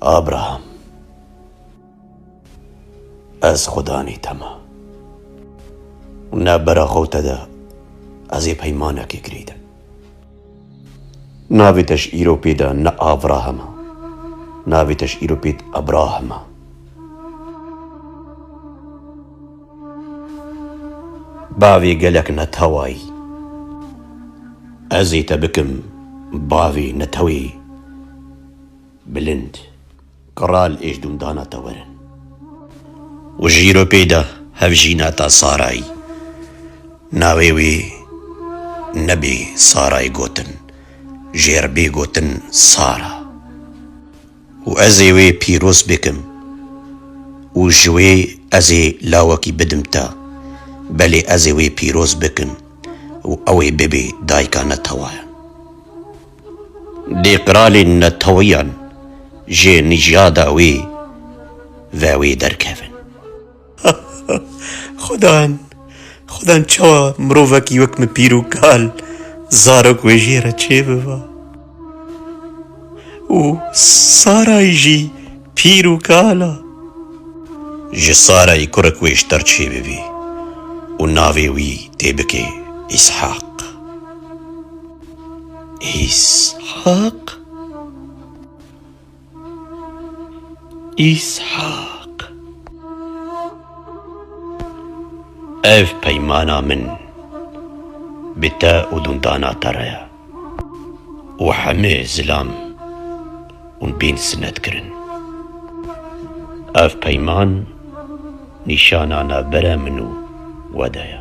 Abraham, ez Xudanî te me. Nebera xew te de ez ê peymanekê girîdim. Navê te ji îro pê de ne Avraham e. Navê te ji îro pê Abraham e. Bavê gelek neteway. Ez ê te bikim bavê netewê bilind. Kral êjdûm dana te werin. Û ji Îropê de hevjîna te Saray. Navê wê nebê Saray gotin, jêr bê gotin Sara. Û ez ê wê pîroz bikim û ji wê ez ê lawekî bidim te, belê ez ê wê pîroz bikim û ew ê bibê dayika netewayan. Dê qiralên netewiyan jê nîjada wê ve wê derkevin. Xudan, xudan çawa mirovekî wek min pîr û kal zarok wê jê re çê biba. Û Sarayî jî pîr û kal a. Ji Sarayî kurek wê ji te re çê bibî û navê wî tê bikê Îshaq. Îshaq? Îshak. Ev peymana min bi te û dundana te re ye û hemê zilam hûn bên sinet kirin. Ev peyman nîşana navbera min û we de ye.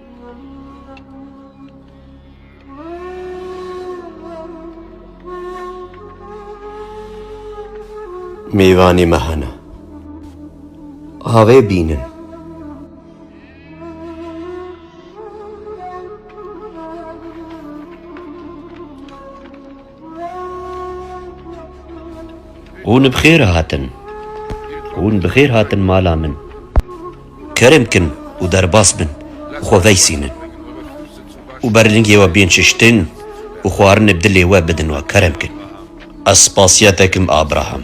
Mêvanê me hene. Avê bînin. Hûn bi xêr hatin. Hûn bi xêr hatin mala min. Kerem kin û derbas bin û xwe veysînin. Û ber lingê we bên çiştin û xwarinê bi dilê we bidin we. Kerem kin. Ez spasiya te kim Abraham.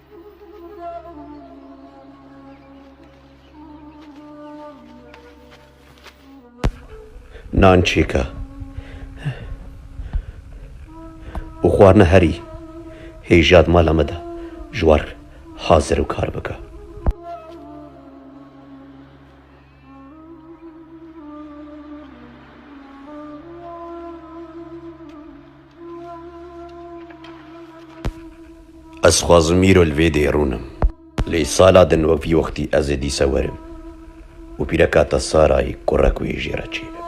Nan çêke û xwarina herî hêja di mala me de ji war hazir û kar bike. Ez xwazim îro li vê dê rûnim. Lê sala din wekî wextî ez ê dîsa werim û pîreka te Sarayê kurek wê jê re çê bibe.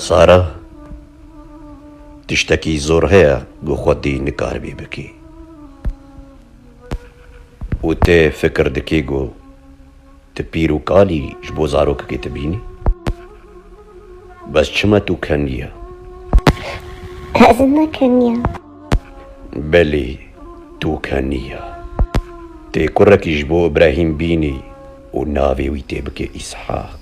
Sara tiştekî zor heye ku xwedî nikaribî bikî û tê fikir dikî ku Ti pîr û kalî ji bo zarokekê ti bînî? Bes çima tu kenî ye? Ez ne kenî ye. Belê tu kenî ye. Ti kurekî ji bo Îbrahîm bînî û navê wî tê bike Îshak.